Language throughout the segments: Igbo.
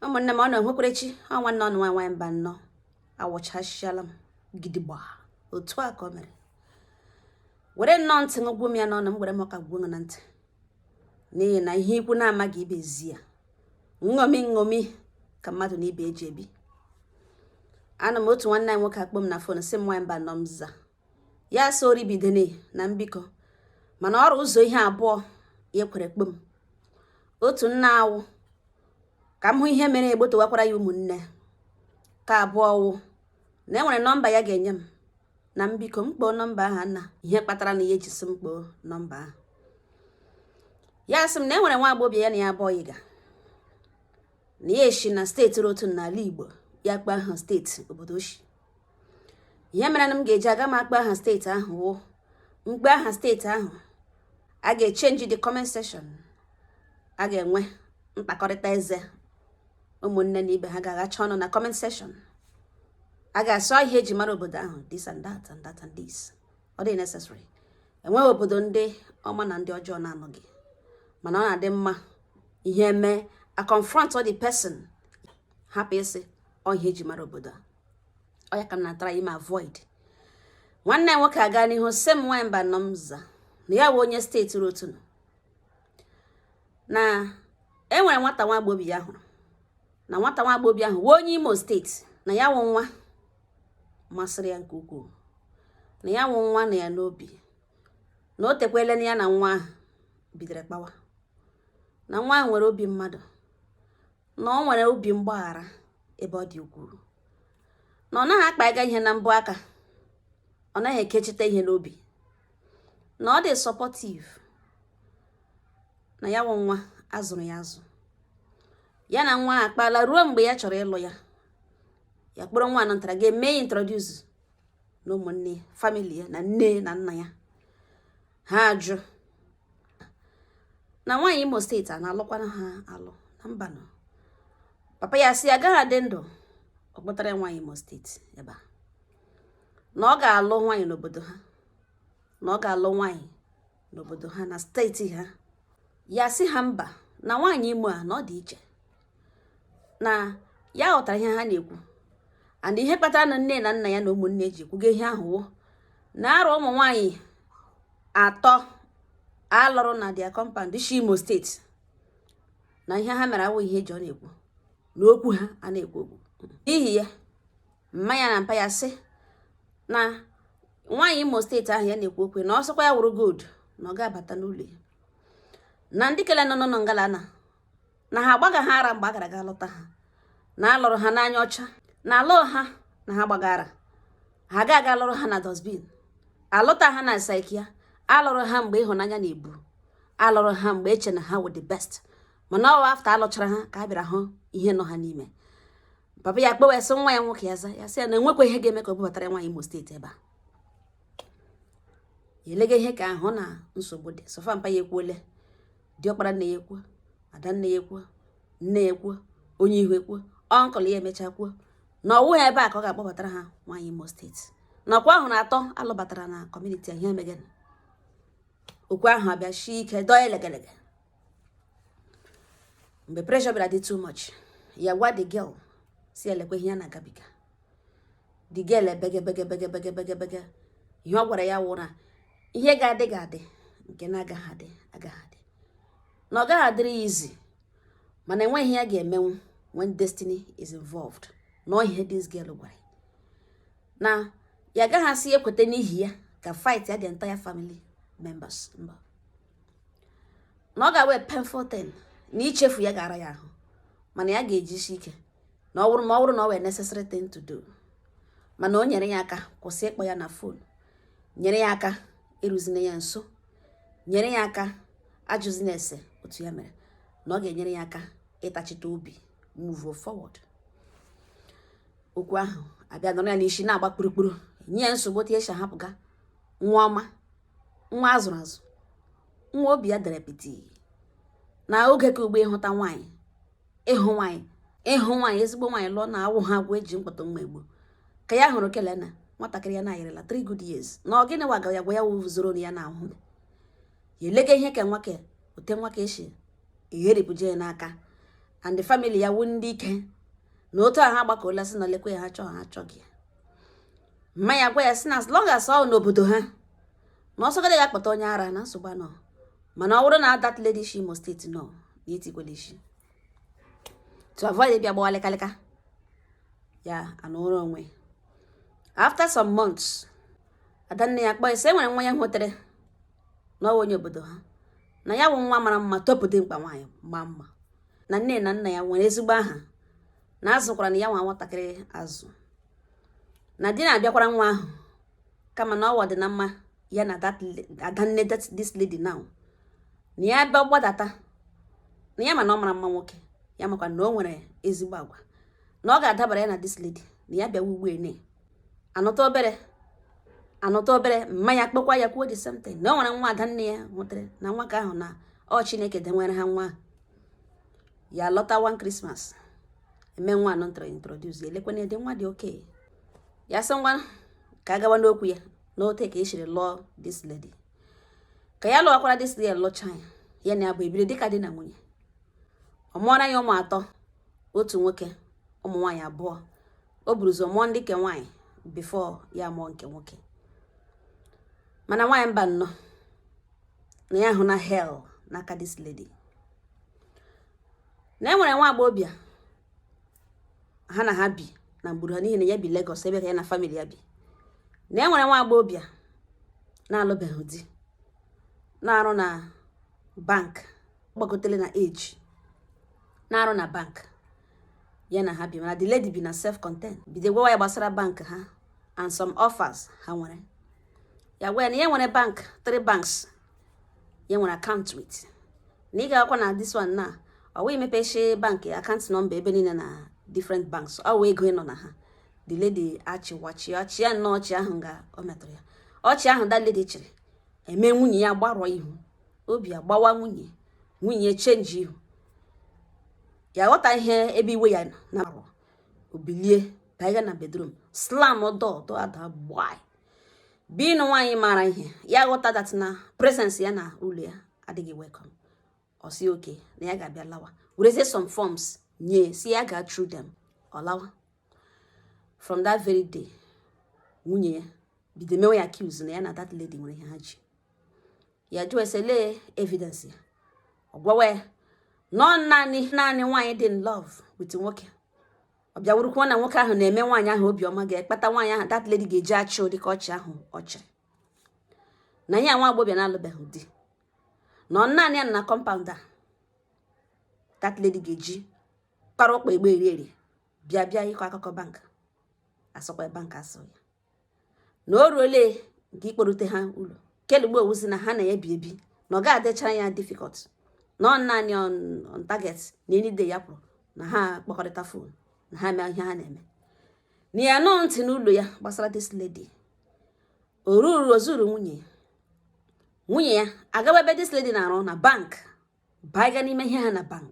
ụmụnne m unu nwekwara chi ọ nwanne unu nwa nwaanyị mbanọ awụchasịala m gidigba otu a ka o mere were nnọọ ntị ṅụgwụ m ya n'ọnụ m were m ọka gwuo na ntị n'ihi na ihe ikwu na-amaghị ibe ezi ya nṅomi nṅomi ka mmadụ na ibe ji ebi anọ m otu nwanne anyị nwoke akpọ m na fon sị m nwaanyị mbanọ m za ya so oribidene na m biko mana ọ rụ ụzọ ihe abụọ ya kwere kpọọ m otu na ha wụ ka m hụ ihe mere egbotowakwara ya ụmụnne nke abụọ wụ na e nwere nọmba ya ga-enye m na m biko m kpọọ nọmba ahụ na ihe kpatara na ya ji sị m kpọọ nọmba ahụ ya sị m na e nwere nwa agbọghọ ya na ya abụọ yiga na ya shi na steeti rụ otu n'ala igbo ya kpọọ aha steeti obodo o shi ihe mere na m ga-eji aga m akpọ aha steeti ahụ wụ m kpọọ aha steeti ahụ a ga-echenji the comment section a ga-enwe mkpakọrịta eze ụmụnne na ibe ha ga-aghacha ọnụ na comment section a ga-asị ọ ihe eji mara obodo ahụ this and that and that and this ọ dị necessary enweghị obodo ndị ọma na ndị ọjọọ na-anọghị mana ọ na-adị mma ihe mee a confront the person hapụ ịsị ọ ihe eji mara obodo a ọ ya ka m na-atry ime avoid nwanne nwoke a gaa n'ihu sị m nwanyị mbanọ m za na ya wụ onye steeti rụ otu na enwere nwata nwa agbọghọ ya hụrụ na nwata nwa agbọghọ ahụ wụ onye imo steeti na ya wụ nwa masịrị ya nke ukwuu na ya wụ nwa nọ ya n'obi na o tekwele na ya na nwa ahụ bidoro kpawa na nwa ahụ nwere obi mmadụ na o nwere obi mgbaghara ebe ọ dị ukwuu na ọ naghị akpaga ihe na mbọ aka ọ naghị ekechite ihe n'obi na ọ dị sọpọtiv na ya wụ nwa a zụrụ ya azụ ya na nwa a akpala ruo mgbe ya chọrọ ịlụ ya ya kpọrọ nwa a natara ga-eme ya introduz na ụmụnne famili ya na nne na nna ya ha ajụ na nwaanyị imo steeti a na-alụkwanụ ha alụ na mbanụ papa ya sị agaghị adị ndụ ọ kpọtara nwaanyị imo steeti ebe a na ọ ga-alụ nwaanyị n'obodo ha na ọ ga-alụ nwaanyị n'obodo ha na steeti ha ya sị ha mba na nwaanyị imo a na ọ dị iche na ya ghọtara ihe ha na-ekwu and ihe kpatara na nne na nna ya na ụmụnne ji ekwuga ihe ahụ wụ na arụ ụmụ nwanyị atọ a lụrụ na their compound shi imo steeti na ihe ha mere awụ ihe eji ọnụ ekwu na okwu ha a na-ekwu okwu n'ihi ya mma ya na mpa ya sị na nwaanyị imo steeti ahụ ya na-ekwu okwu na ọ sịkwa ya wụrụ gold na ọ ga-abata n'ụlọ ya na ndị kele nọ nọ na ngalana na ha agbaga ha ara mgbe a gara ga lụta ha na alụrụ ha n'anya ọcha na alụ ha na ha gbagara ha ga aga lụrụ ha na dustbin alụta ha na psychia alụrụ ha mgbe ịhụnanya na-ebu alụrụ ha mgbe eche na ha wụ the best mana ọwa after alụchara ha ka a bịara hụ ihe nọ ha n'ime papa ya kpewe sị nwa ya nwoke ya za ya sị ya na enwekwa ihe ga-eme ka o bubatara nwaanyị Imo State ebe a elega ihe ka ahụ na nsogbu dị so far mpa ya ekwuole diọkpara nne ya ekwuo ada nne ya ekwuo nne ya ekwuo onye ihu ekwuo uncle ya emechaa kwuo na ọ wụha ebe a ka ọ ga-akpọbatara ha nwaanyị Imo State nakwa ahụ na atọ alụbatara na community ihe megana okwu ahụ abịa shi ike dọọ elegelege mgbe pressure bịara dị too much ya gwa the girl sị ya lekwa ihe ya na-agabiga digel ebegebegebegebegebegebege ihe ọ gwara ya wụ na ihe ga-adị ga-adị nke na-agaghị adị agaghị adị na ọ gaghị adịrị ya easy mana enweghị ihe ya ga-emenwu when destiny is involved na ihe this girl gwara na ya agaghị asị ekweta n'ihi ya ka fight ya the entire family members mba na ọ ga-awụ a painful thing na ichefu ya ga-ara ya ahụ mana ya ga-ejisi ike na ọ bụrụ na ọ wụ a necessary thing to do mana o nyere ya aka kwụsị ịkpọ ya na phone nyere ya aka eruzina ya nso nyere ya aka ajụzina ese otu ya mere na ọ ga-enyere ya aka ịtachite obi move forward okwu ahụ abịa nọrọ ya n'isi na-agba kpurukpuru nye ya nsogbu otu esi ahapụga nwa ọma nwa azụrụ azụ nwa obi ya dere piti na oge ke ugbua ịhụta nwaanyị ịhụ nwaanyị ịhụ nwaanyị ezigbo nwaanyị lụọ na awụha ọgụ eji mkpọtụ mma egbo ka ya hụrụ kelena nwatakịrị ya na-ayịrịla 3 good years na ọ gịnị waga ya gwa ya wụ zoro ya na ahụ ya elega ihe ka nwa ka otu nwa ka shi egheripụje ya n'aka and the family ya wụ ndị ike na otu ha gbakọla sị na lekwa ya ha achọghị ya mma ya gwa ya sị na as long as ọ n'obodo ha na ọ sọgodi ya kpọta onye ara na nsogbu anọ mana ọ bụrụ na that lady shi Imo State nọ na itikwele isi to avoid ịbịa gbawa lịkalịka ya anụrụ onwe after some months adanne ya kpọọ sị e nwere nwa ya hụtere na ọwa onye obodo ha na ya bụ nwa mara mma topụ dimkpa nwaanyị ma mma na nne na nna ya nwere ezigbo aha na azụkwaranụ ya wụ nwatakịrị azụ na di na-abịakwara nwa ahụ kama na ọwa dị na mma ya na adanne this lady now na ya bịa gbadata na ya ma na ọ mara mma nwoke ya makwa na o nwere ezigbo agwa na ọ ga-adabara ya na this lady na ya bịawa ugbu ene anọta obere anọta obere mma ya kpọkwa ya kwuo the same thing na o nwere nwa adanne ya hụtere na nwa ka ahụ na ọ Chineke dowere ha nwa ahụ ya lọta one Christmas emewanụ ntara introduce elekwana dị nwa dị okay ya sị ngwa ka a gawa n'okwu ya n'ote ka e shiri lụọ this lady ka ya lụwakwara this lady lụcha ya ya na ya bụ ebiri dịka di na nwunye ọ mụọra ya ụmụ atọ otu nwoke ụmụ nwaanyị abụọ o buru ụzọ mụọ ndị nke nwaanyị before ya mụọ nke nwoke mana nwaanyị mba nnọọ na ya hụna hell n'aka this lady na e nwere nwa agbọghọbịa ha na ha bi na ngburu ha n'ihi na ya bi Lagos ebe ka ya na family ya bi na e nwere nwa agbọghọbịa na-alụbeghị di na-arụ na bank gbagotele na age na-arụ na bank ya na ha bi mana the lady bi na self contain bido gwawa ya gbasara bank ha and some offers ha nwere ya gwa ya na ya nwere bank three banks ya nwere account with na ịgakwa na this one na ọ wụ imepeshi bank account number ebe niile na different banks ọ wụ ego ịnọ na ha the lady achịwa ọchị chịa nnọọ ọchị ahụ nga ọ metụrụ ya ọchị ahụ that lady chịrị eme nwunye ya gbarụọ ihu obi agbawa nwunye nwunye change ihu ya ghọta ihe ebe iwe ya na-arụ o bilie baiga na bedroom slam door door ada gbaa being nwaanyị maara ihe ya ghọta that na presence ya na ụlọ ya adịghị welcome ọ sị okay na ya ga-abịa lawa werezie some forms nye sị ya ga through them ọ lawa from that very day nwunye ya bido mewe ya accuse na ya na that lady nwere ihe ha ji ya jụọ ya sị olee evidence ya ọ gwawa ya na ọ naanị nwaanyị dị in love with nwoke ọ bịa wụrụkwa na nwoke ahụ na-eme nwaanyị ahụ obiọma ga-ekpata nwaanyị ahụ that lady ga-eji achị ụdị ka ọchị ahụ ọ chịrị na ya nwa agbọghọbịa na-alụbeghị di na ọ naanị ya na compound a that lady ga-eji kpara ụkpa egbe eri eri bịa bịa ịkọ akụkọ bank asọkwa bank asọ ya na o ruole nke ikporute ha ụlọ kelugbo ọ wụzi na ha na ya bi ebi na ọ ga adịchara ya difficult na ọ naanị on target na any day ya pụrụ na ha kpọkọrịta phone na ha mee ihe ha na-eme na ya anụ ntị n'ụlọ ya gbasara this lady o ruru o zuru nwunye ya nwunye ya agaba ebe this lady na-arụ na bank baiga n'ime ihe ha na bank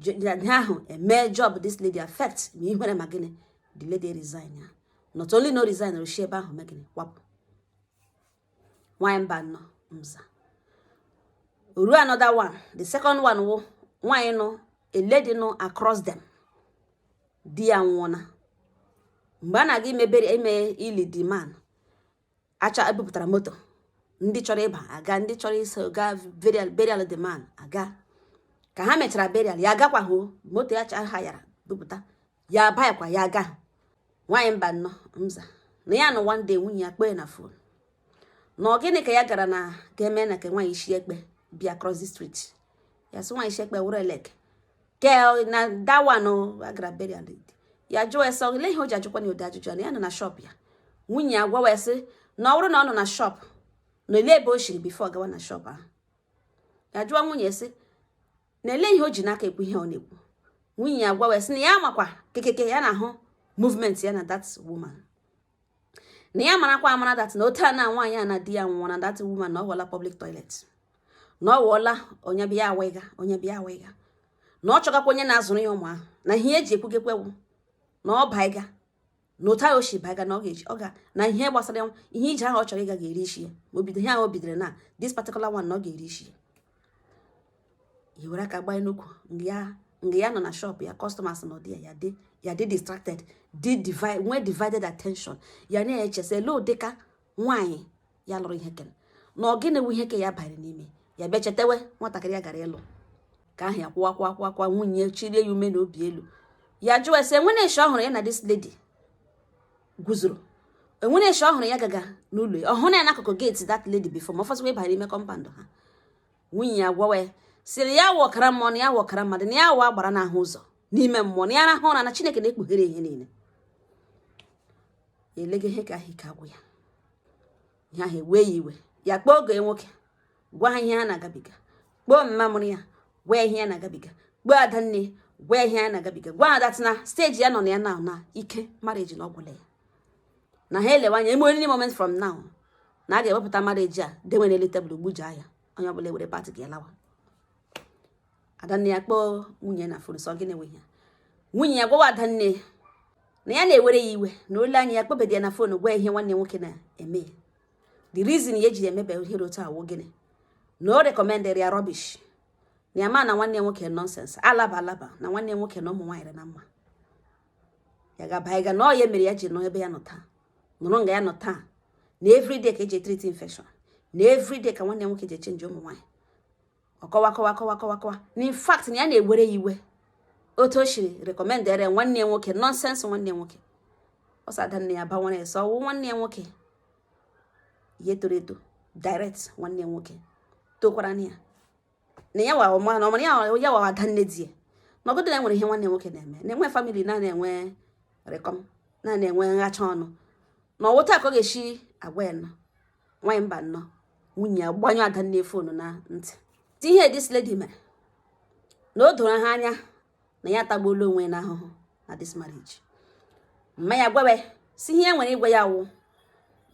ihe ahụ eme job this lady affect ma ihere ma gịnị the lady resign ya not only na ọ resign o shi ebe ahụ megịnị kwapụ nwanyị mba nọ mza o ruo another one the second one wụ nwanyị nọ a lady nọ across them di ya nwụọna mgbe a na-aga imebere ime ili the man acha ebupụtara moto ndị chọrọ ịba aga ndị chọrọ iso gaa burial burial the man aga ka ha mechara burial ya agakwaghị o, moto ya cha hayara bupụta ya abayakwa ya aga nwaanyị Mbano mza na ya nọ one day nwunye ya kpee na phone na ọ gịnị ka ya gara na ga-eme na ka nwaanyị isi ekpe bịa cross the street ya sị nwaanyị isi ekpe wụrụ elek ke na that one ọ gara burial ya jụọ ya sị ele ihe o ji ajụkwa na ụdị ajụjụ ya na ya nọ na shop ya nwunye ya gwawa sị na ọ bụrụ na ọ nọ na shop na ele ebe o shiri before gawa na shop ahụ ya jụọ nwunye sị na ele ihe o ji n'aka ekwu ihe ọ na-ekwu nwunye ya gwawa sị na ya makwa kekeke ya na-ahụ movement ya na that woman na ya marakwa amara that na otu a na nwaanyị a na di ya nwụọ na that woman na ọ ghọla public toilet na ọ ghọọla onye bịa awịga onye bịa awịga na ọ chọgakwa onye na-azụrụ ya ụmụ ahụ na ihe eji ekwugekwewu na ọ baiga na otu ahụ o shi baiga na ọ ga-eji ọ ga na ihe gbasara ihe ije ahụ ọ chọrọ ịga ga-eri isi ya ma o bido ihe ahụ o bidoro na this particular one na ọ ga-eri isi ya i were aka gbaa n'ukwu nga ya nọ na shop ya customers nọ there dị ya dị distracted dị divide nwee divided attention ya na-eche sị ele ụdịka nwaanyị ya lụrụ ihe kere na ọ gịnị wu ihe ke ya banyere n'ime ya bịa chetewe nwatakịrị ya gara ịlụ ka ahụ ya kwụwa kwụwa kwụwa kwụwa nwunye chirie ya ume na obi elu ya jụọ ya sị enwere eshi ọ hụrụ ya na this lady guzoro enwere eshi ọ hụrụ ya gaga n'ụlọ ya ọ hụrụ ya n'akụkụ gate that lady before ma ọ fọzikwa ịbara ime compound ha nwunye ya gwawa ya sịrị ya wụ ọkara mmụọ na ya wụ ọkara mmadụ na ya wụ agbara na-ahụ ụzọ n'ime mmụọ na ya rahụ ụra na chineke na-ekpughere ihe niile elega ihe ka ahụ ike agwụ ya ihe ahụ ewee ya iwe ya kpọọ ọgọ nwoke gwa ya ihe ya na-agabiga kpọọ mma mụrụ ya gwa ya ihe ya na-agabiga kpọọ adanne gwa ya ihe ya na-agabiga gwa ha that na stage ya nọ na ya na na ike marriage na ọ gwụla ya na ha elewe anya any moment from now na a ga-ewepụta marriage a dewe n'elu table gbuja ya onye ọbụla ewere part ya lawa adanne ya kpọọ nwunye na phone sị ọ gịnị nwe ya nwunye ya gwawa adanne na ya na-ewere ya iwe na o lee anya ya akpọbedị ya na phone gwa ihe nwanne nwoke na-eme ya the reason ya ji emebe ihe otu a wụ gịnị na o recommendịrị ya rubbish na ya ma na nwanne nwoke nonsense alaba alaba na nwanne nwoke na ụmụ nwaanyị na mma ya gaba ịga na ọ ya mere ya ji nọ ebe ya nọ taa nọrọ nga ya nọ taa na everyday ka eji treat infection na everyday ka nwanne nwoke ji change ụmụ nwaanyị ọ kọwa kọwa kọwa kọwa kọwa na in fact na ya na-ewere ya iwe otu o shiri recommendere nwanne nwoke nonsense nwanne nwoke ọ sị adanne ya banwere ya sị ọ wụ nwanne ya nwoke ihe toro eto direct nwanne ya nwoke tokwara na ya na ya wa ọma na ọmara ya wa ada nne di ya na ọgụdị na enwere ihe nwanne nwoke na-eme na-enwe family na-ana enwe rịkọm na-ana enwe nhacha ọnụ na ọ wụ otu a ka ọ ga-esi agwa ya nọ nwaanyị mba nnọ nwunye ya gbanyụ ada nne phone na ntị ti ihe this lady mere na o doro ha anya na ya atagbuola onwe na ahụhụ na this marriage mma ya gwawa sị ihe ya nwere ịgwa ya wụ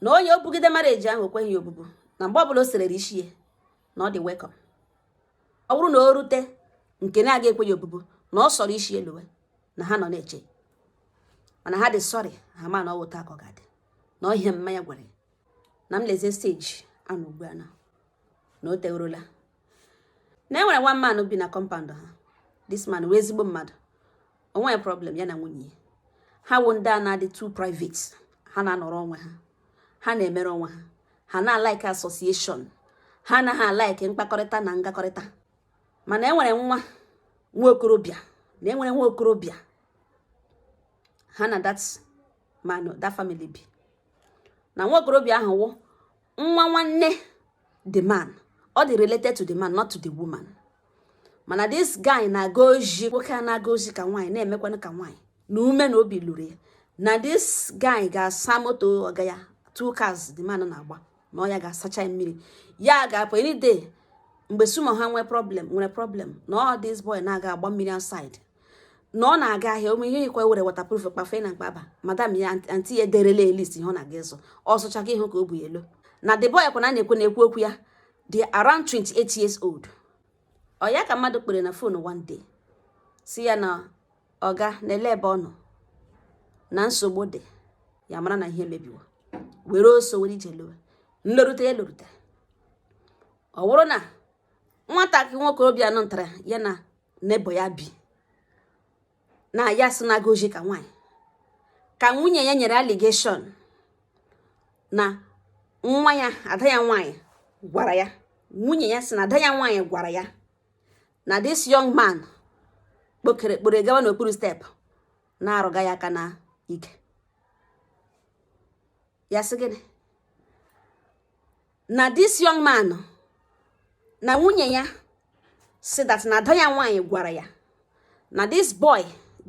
na onye o bugide marriage ahụ o kweghị ya obubu na mgbe ọbụla o serere isi ya na ọ dị welcome ọ bụrụ na o rute nke na-aga ekwe ya obubu na ọ sọrọ isi ya lọwe na ha nọ na-eche mana ha dị sorry ha ma na ọ wụ otu a ka ọ ga-adị na ọ ihe mma ya gwara ya na m lezie stage a nọ ugbu a na na o tegorola na enwere one man bi na compound ha this man wụ ezigbo mmadụ o nweghị problem ya na nwunye ya ha wụ ndị a na-adị too private ha na-anọrọ onwe ha ha na-emere onwe ha ha anaghị alike association ha anaghị alike mkpakọrịta na ngakọrịta mana enwere nwa nwa okorobịa na enwere nwa okorobịa ha na that man that family bi na nwa okorobịa ahụ wụ nwa nwanne the man ọ dị related to the man not to the woman mana this guy na-aga ozi nwoke a na-aga ozi ka nwaanyị na-emekwanụ ka nwaanyị na ume na obi lụrụ ya na this guy ga-asa moto ọga ya two cars the man na-agba na ọ ya ga-asacha mmiri ya ga-apụ any day mgbe sumo ha nwee problem nwere problem na ọ this boy na-aga agba mmiri outside na ọ na-aga ahịa ụmụ ihe ikwe were waterproof kpafe na mkpaba madam ya aunty ya ederela list ihe ọ na-aga ịzụ ọ zụcha gị ịhụ ka o bu alọ na the boy kwa na na-ekwu na-ekwu okwu ya dị around 28 years old ọ ya ka mmadụ kpọrọ na phone one day sị ya na ọga na-alọ ebe ọ nọ na nsogbu dị ya mara na ihe mebiwa were ọsọ were ije lọwe nlọrute ya lọrute ọ bụrụ na nwatakịrị nwoke obi anọ ntara ya na n'ebe ya bi na ya sị na-aga ozi ka nwaanyị ka nwunye ya nyere allegation na nwa ya ada ya nwaanyị gwara ya nwunye ya sị na ada ya nwaanyị gwara ya na this young man kpọkọrọ kpọrọ gawa n'okpuru step na-arụga ya aka na ike ya sị gịnị na this young man na nwunye ya sị that na ada ya nwaanyị gwara ya na this boy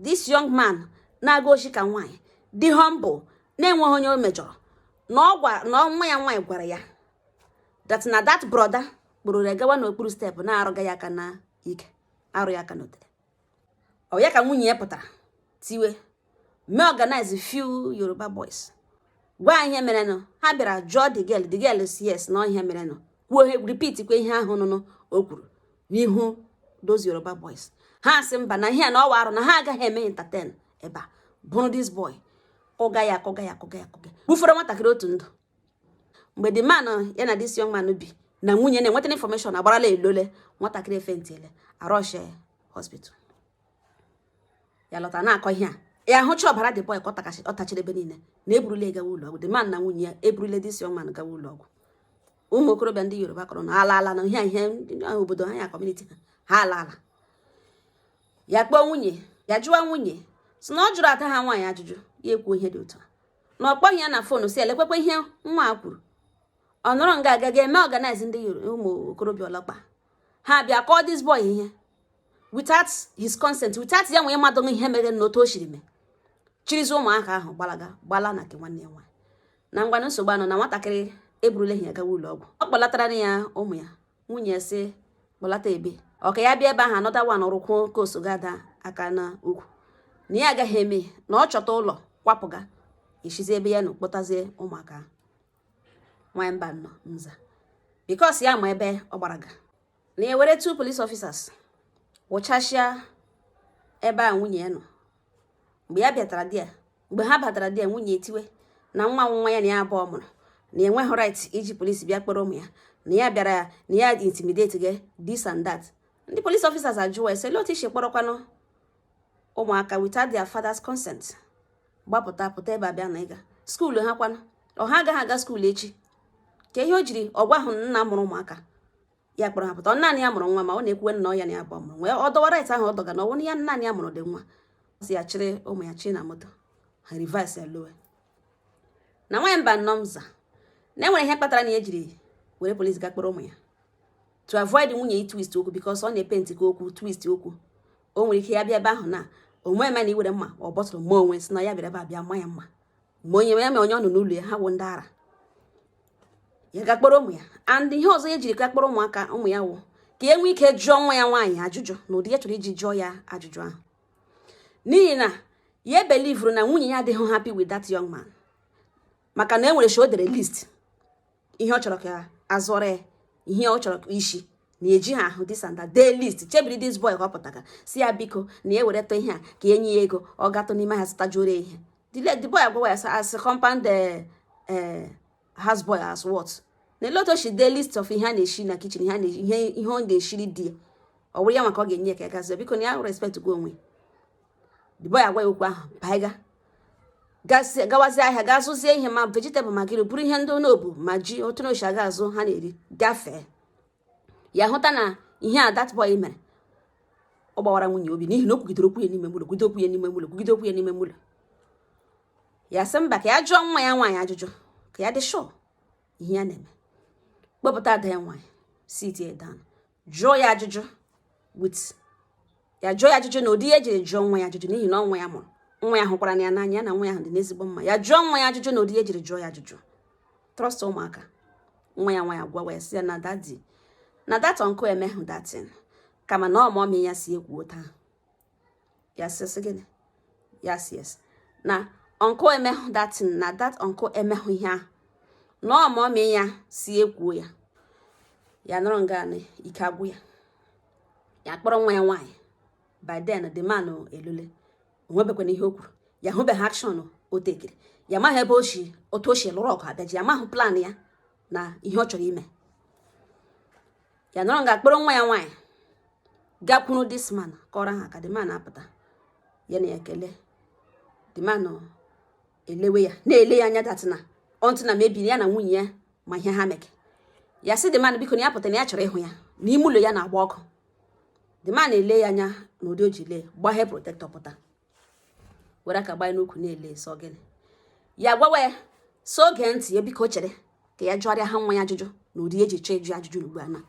this young man na-aga ozi ka nwaanyị dị humble na-enweghị onye o mejọrọ na ọ gwara na nwa ya nwaanyị gwara ya that na that brother kpụrụ ya gawa n'okpuru step na-arụga ya aka na ike arụ ya aka n'otere ọ ya ka nwunye ya pụtara tiwe mee organize few yoruba boys gwa ha ihe merenụ ha bịara jụọ the girl the girl sị yes na ihe merenụ kwuo repeat kwa ihe ahụ nụnụ o kwuru n'ihu those yoruba boys ha sị mba na ihe na ọ wụ arụ na ha agaghị eme entertain ebe a buru this boy kụga ya kụga ya kụga ya kụga gbufọrọ nwatakịrị otu ndụ mgbe the man ya na this young man bi na nwunye na-enweta information agbarala elole nwatakịrị efentile a rush ya hospital ya lọta na-akọ ihe a ya hụcha ọbara the boy ka ọ tachiri ebe niile na eburule gawa ụlọ ọgwụ the man na nwunye ya eburule this young man gawa ụlọ ọgwụ ụmụ okorobịa ndị yoruba kụrụnụ alaala na ihe ihe obodo ha ya community ha ha alaala ya kpọọ nwunye ya jụwa nwunye sị na ọ jụrụ ada ha nwaanyị ajụjụ ya ekwuo ihe dị otu a na ọ kpọghị ya na phone sị lekwekwa ihe nwa a kwuru ọ nọrọ nga a ga mee organize ndị ụmụ okorobịa ọlọkpa ha bịa kụọ this boy ihe without his consent without ya nwee mmadụ ihe mere na otu o siri mee chịrịzie ụmụaka ahụ gbalaga gbala na nke nwanne ya nwaanyị na ngwanụ nsogbu anọ na nwatakịrị eburula ya gawa ụlọ ọgwụ ọ kpọlatara ya ụmụ ya nwunye sị kpọlata ebe ọ ka ya bịa ebe ahụ another one rụkwuo ka ọ sọga ada aka n'ukwu na ya agaghị eme na ọ chọta ụlọ kwapụga i shizi ebe ya nọ kpọtazie ụmụaka nwanyị mbanọ m za because ya ma ebe ọ gbaraga na ya were two police officers wụchasịa ebe a nwunye ya nọ mgbe ya bịatara di ya mgbe ha batara di ya nwunye etiwe na nwa nwa ya na ya abụọ mụrụ na enweghị right iji police bịa kpọrọ ụmụ ya na ya bịara na ya intimidate gị this and that ndị police officers ajụwa ese otu i si kpọrọkwanụ ụmụaka without their father's consent gbapụta pụta ebe a bịa na ịga school ha kwanụ ọ ha agaghị aga school echi ka ihe o jiri ọ gwahụ nna mụrụ ụmụaka ya kpọrọ ha pụta ọ naanị ya mụrụ nwa ma ọ na-ekwuwe na ọ ya na ya abụọ mụrụ nwa ọ dọwa right ahụ ọ dọga na ọ wụ ya naanị ya mụrụ dị nwa sị ya chịrị ụmụ ya chi na moto ha reverse ya lọwe na nwaanyị mbanọ m za na enwere ihe kpatara na ya jiri were police ga kpọrọ ụmụ ya to avoid nwunye ya ị twist okwu because ọ na-epenti ka okwu twist okwu o nwere ike ya bịa ebe ahụ na onwe ma na iwere mma ọ bọtụrụ mma onwe sị na ya bịara ebe a bịa ma ya mma ma nwunye ya ma onye ọ nọ n'ụlọ ya ha wụ ndị ara ya ga kpọrọ ụmụ ya and ihe ọzọ ya jiri ga kpọrọ ụmụaka ụmụ ya wụ ka ya nwee ike jụọ nwa ya nwaanyị ajụjụ na ụdị ya chọrọ iji jụọ ya ajụjụ ahụ n'ihi na ya belivuru na nwunye ya adịghị happy with that young man maka na e nwere shi o dere list ihe ọ chọrọ ka a zụọrọ ya ihe ọ chọrọ isi na eji ha ahụ this and that dee list chebiri this boy ka ọ pụtara sị ya biko na ya were tọ ihe a ka e nye ya ego ọ gatụ n'ime ahịa zụtajuore ihe the boy agwawa ya as compound eh, eh, house boy as what na ele otu o si dee list of ihe a na-esi na kitchen ihe ọ ga-esiri di ya ọ wụrụ ya maka ọ ga-enye ya ka ya gazie biko na ya respect gwa onwe the boy agwa ya okwu ahụ baiga gawazie ahịa gaa zụzie ihe ma vegetable ma gịnị bụrụ ihe ndị onobu ma ji otu na ochi aga azụ ha na-eri gafee ya hụta na ihe a that boy mere ọ gbawara nwunye obi n'ihi na o kwugidere okwu ya n'ime ụlọ ya sị mba ka ya jụọ nwa ya nwaanyị ajụjụ ka ya dị sure ihe ya na-eme kpọpụta ada ya nwaanyị sit ya down jụọ ya ajụjụ with ya jụọ ya ajụjụ na ụdị ihe ejiri jụọ nwa ya ajụjụ n'ihi na ọ wụ ya mụrụ nwa ya hụkwara na ya n'anya ya na nwa ya ahụ dị n'ezigbo mma ya jụọ nwa ya ajụjụ na ụdị ihe ejiri jụọ ya ajụjụ trust ụmụaka nwa ya nwaanyị agwawa ya sị ya na daddy na that uncle emehụ that thing kama na ọ mummy ya sị ya kwuo otu a ya sị sị gịnị ya sị yes na uncle emehụ that thing na that uncle emehụ ihe ahụ na ọ mummy ya sị ya kwuo ya ya nọrọ nga na ike agwụ ya ya kpọrọ nwa ya nwaanyị by then the man elule o nwebekwana ihe o kwuru ya hụbeghị action o tekiri ya maghị ebe o si otu o si lụrụ ọgụ abịaji ya maghị plan ya na ihe ọ chọrọ ime ya nọrọ nga kpọrọ nwa ya nwaanyị gakwuru this man kụọrọ ha aka the man apụta ya na ekele the man elewe ya na-ele ya anya datina ọntụ na mebiri ya na nwunye ya ma ihe ha meke ya sị the man biko na ya pụta na ya chọrọ ịhụ ya na ime ụlọ ya na-agba ọkụ the man ele ya anya na ụdị o ji lee gbaghee protector pụta were aka gbanye n'ukwu na-ele sị ọ gịnị ya gwawa ya sị ọ gee ntị ya biko chere ka ya jụọrịa ha nwa ya ajụjụ na ụdị eji chọọ ịjụ ajụjụ ugbu a na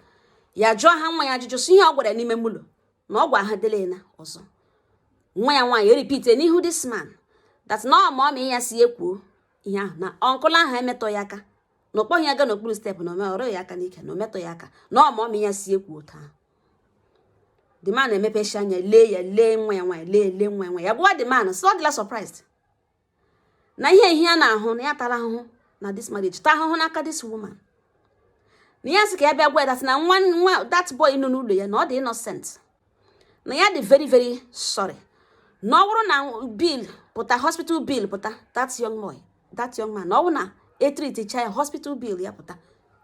ya jụọ ha nwa ya ajụjụ sị ihe ọ gwara n'ime ụlọ na ọ gwa ha dele na ọzọ nwa ya nwaanyị erepeat n'ihu this man that na ọ mummy ya sị ya kwuo ihe ahụ na uncle ahụ emetụhụ ya aka na ọ kpọghị ya gaa n'okpuru step na ọ rụhụ ya aka n'ike na o metụhụ ya aka na ọ mummy ya sị ya kwuo otu a the man emepesịa anya lee ya lee nwa ya nwaanyị lee lee nwa ya nwaanyị ya gwa the man sị ọ dịla surprised na ihe ihe a na-ahụ na ya tara ahụhụ na this marriage taa ahụhụ n'aka this woman na ya sị ka ya bịa gwa ya that na nwa nwa that boy nọ n'ụlọ ya na ọ dị innocent na ya dị very very sorry na ọ bụrụ na bill pụta hospital bill pụta that young boy that young man na ọ bụrụ na e treatichaa ya hospital bill ya pụta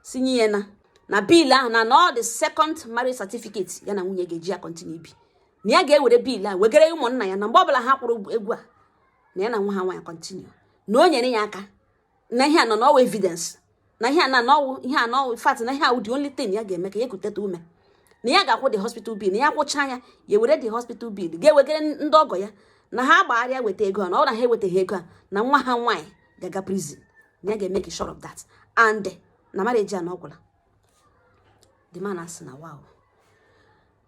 sinye ya na na bill ahụ na na ọ the second marriage certificate ya na nwunye ga-eji ya continue ibi na ya ga-ewere bill a wegara ụmụnna ya na mgbe ọbụla ha kwụrụ ego a na ya na nwa ha nwaanyị continue na o nyere ya aka na ihe a nọ n'ọwụ evidence na ihe a na n'ọwụ ihe a n'ọwụ fact na ihe a wụ the only thing ya ga-eme ka ya ekuteta ume na ya ga-akwụ the hospital bill na ya kwụchaa ya ya were the hospital bill ga-ewegara ndị ọgọ ya na ha gbagharịa weta ego a na ọ na ha ewetaghị ego a na nwa ha nwaanyị ga-aga prison na ya ga-make sure of that and na marriage a na ọgwụla the man asị na wow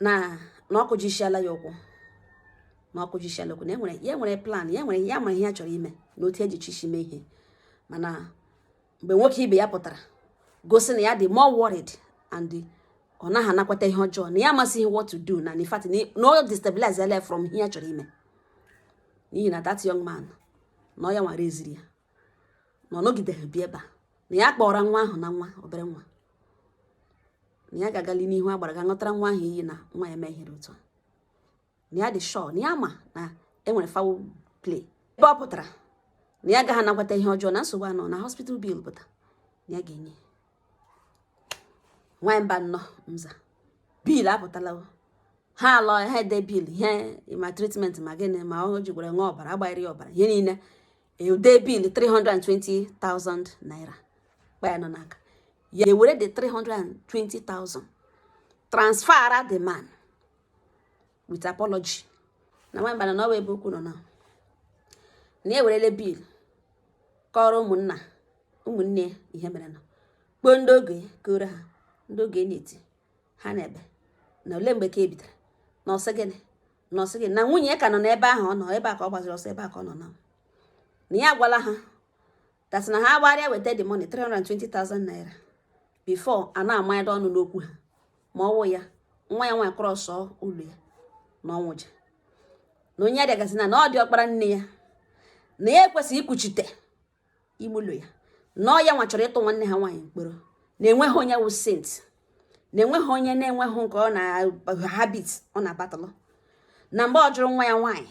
na na ọ kụjisiala ya ụkwụ na ọ kụjisiala ụkwụ na enwere ya nwere plan ya nwere ya mara ihe ya chọrọ ime na otu eji chi mee ihe mana mgbe nwoke ibe ya pụtara gosi na ya dị more worried and ọ naghị anakwata ihe ọjọọ na ya amasịghị what to do na in fact na ọ destabilize ya from ihe ya chọrọ ime n'ihi na that young man na ọ ya nwara eziri ya na ọ nọgideghị bịa ebe a na ya kpọọra nwa ahụ na nwa obere nwa na ya ga-agali n'ihu agbara ga ṅụtara nwa ahụ iyi na nwa ya mehiere otu a na ya dị sure na ya ma na enwere foul play ebe ọ pụtara na ya agaghị anakwata ihe ọjọọ na nsogbu anọ na hospital bill pụta na ya ga-enye nwaanyị mba nnọọ nza bill apụtala ha alọ ha ede bill ihe ma treatment ma gịnị ma ọ ji gwere nwa ọbara agbaghịrị ọbara ihe niile ede bill 320,000 naira kpa ya nọ n'aka ya ewere the 320,000 transfera the man with apology na nwaanyị mba na ọ bụ ebe okwu nọ na na ya ewerele bill kọrọ ụmụnna ụmụnne ihe mere na kpọọ ndị ọgọ ya kọọrọ ha ndị ọgọ ya na-eti ha na-ebe na ole mgbe ka ebidara na ọ sị gịnị na ọ sị gịnị na nwunye ka nọ n'ebe ahụ ọ nọ ebe a ka ọ gbaziri ọsọ ebe a ka ọ nọ na na ya agwala ha that is na ha agbarịa weta the money 320,000 naira before a na-amanyado ọnụ n'okwu ha ma ọwụ ya nwa ya nwaanyị cross ụlọ ya na ọnwụja na onye adịagazi na na ọ diọkpara nne ya na ya ekwesịghị ikwuchite ime ụlọ ya na ọ ya nwa chọrọ ịtụ nwanne ha nwaanyị mkpọrọ na enweghị onye wụ saint na enweghị onye na-enweghị nke ọ na habit ọ na-abattle na mgbe ọ jụrụ nwa ya nwaanyị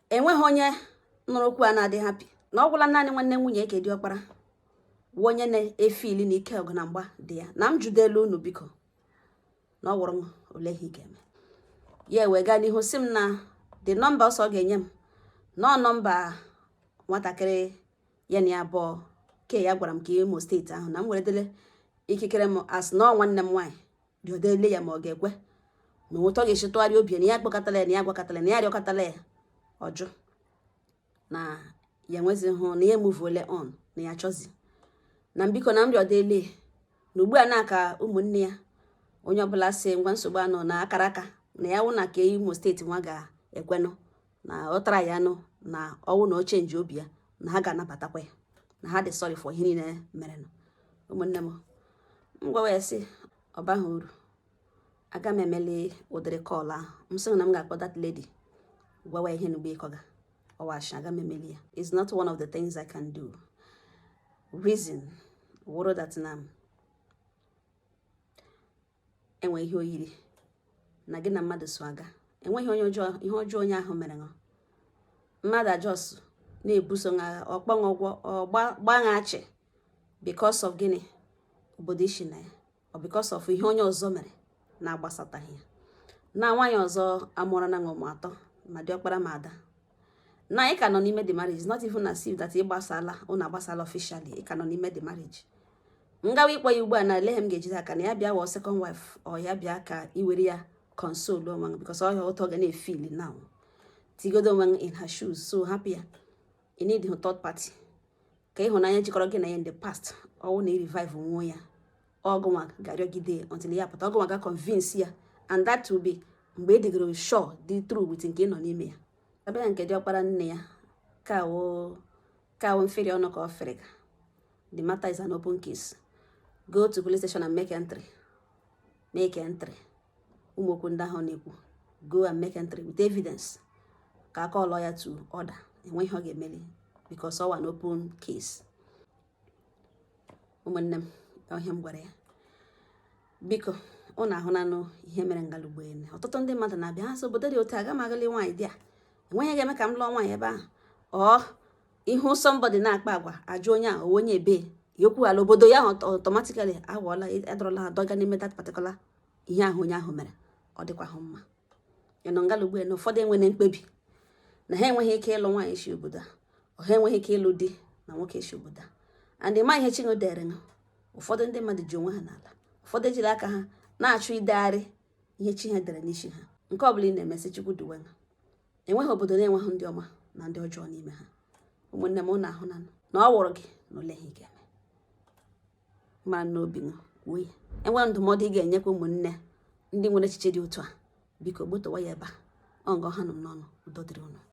enweghị onye nụrụ okwu a na-adị happy na ọ gwụla naanị nwanne nwunye ya ke diọkpara wụ onye na-efeel na ike ọgụ na mgba dị ya na m jụdelu unu biko na ọ wụrụ m ole ihe ị ga-eme ya wee gaa n'ihu sị m na the number ọ sị ọ ga-enye m na ọ number nwatakịrị ya na ya abụọ ke ya gwara m ka imo state ahụ na m weredele ikikere m as na ọ nwanne m nwaanyị rịọdele ya ma ọ ga-ekwe na otu ọ ga-esi tụgharịa obi na ya kpọkọtala ya na ya gwakọtala na ya rịọkọtala ya ọ jụ na ya enwezihụ na ya emuvuole on na ya chọzi na m biko na m rịọdele na ugbu a n'aka ụmụnne ya onye ọbụla sị ngwa nsogbu anọ na akara aka na ya wụ n'aka imo steeti nwa ga-ekwenụ na ọ tara ya nụ na ọ wụ na o chenjie obi ya na ha ga-anabatakwa ya na ha dị sorry for ihe niile mere nụ ụmụnne m m gwawa ya sị ọ baghị uru aga m emeli ụdịrị call ahụ m sịghị na m ga-akpọ that lady gwawa ihe n'ugbo ị kọga ọ wụ ashị aga m emeli ya it's not one of the things I can do reason wụrụ that na e nwere ihe o yiri na gị na mmadụ so aga enweghị onye ọjọọ ihe ọjọọ onye ahụ mere ṅụ mmadụ a just na-ebuso ṅa agha ọ kpọ ṅụ ụgwọ ọ gba ṅa achị because of gịnị obodo i si na ya ọ because of ihe onye ọzọ mere na-agbasataghị ya na nwaanyị ọzọ amụọrọna ụmụ atọ ma di ọkpara ma ada na ị ka nọ n'ime the marriage not even as if that ị gbasala ụnụ agbasala officially ị ka nọ n'ime the marriage m gawa ịkpọ ya ugbu a na ele m ga-ejide aka na ya bịa wọ second wife ọ ya bịa ka i were ya console onwe gị because ọ ya otu ọ ga na-efeel now tigodo onwe gị in her shoes so hapụ ya ị needhụ third party ka ịhụnanya jikọrọ gị na ya in the past ọ wụ na i revive nwa ya ọ gị nwa ga-arịọgide until ya pụta ọ gị nwa ga convince ya and that will be mgbe ị dịgoro sure dị through with nke ị nọ n'ime ya a bịa nke di ọkpara nne ya kawo kawo mferi ọnụ ka ọ fere ka the matter is an open case go to police station and make entry make entry ụmụ okwu ndị ahụ na-ekwu go and make entry with evidence ka a call-ọ ya to order enweghị ihe ọ ga-emeli because ọ wụ an open case ụmụnne m ọ ihe a m gwara ya biko ụnụ ahụnanụ ihe mere ngala ugbu ene ọtụtụ ndị mmadụ na-abịa ha sị obodo dị otu aga m agụli nwaanyị there enweghị ihe ga-eme ka m lụọ nwaanyị ebe ahụ or ị hụ somebody na-akpa agwa a jụọ onye a ọ wụ onye ebee ya ekwuola obodo ya automatically aghọọla a dọrọla a dọga n'ime that particular ihe ahụ onye ahụ mere ọ dịkwahụ mma ị nọ ngala ugbu na ụfọdụ enwere mkpebi na ha enweghị ike ịlụ nwaanyị si obodo a ha enweghị ike ịlụ di na nwoke si obodo a and ma ihe chi ha dere ha ụfọdụ ndị mmadụ ji onwe ha n'ala ụfọdụ ejiri aka ha na-achụ idegharị ihe chi ha dere n'isi ha nke ọ bụla ị na-eme sị chukwu duwe ha enweghị obodo na-enweghị ndị ọma na ndị ọjọọ n'ime ha ụmụnne m ụnụ ahụna na ọ wụrụ gị na olee ihe ị ga-eme ma n'obi wee e nwere ndụmọdụ ị ga-enyekwa ụmụnne ndị nwere echiche dị otu a biko gbutowa ya ebe a ọ nga ọ hana m n'ọnụ udo dịrị ụnụ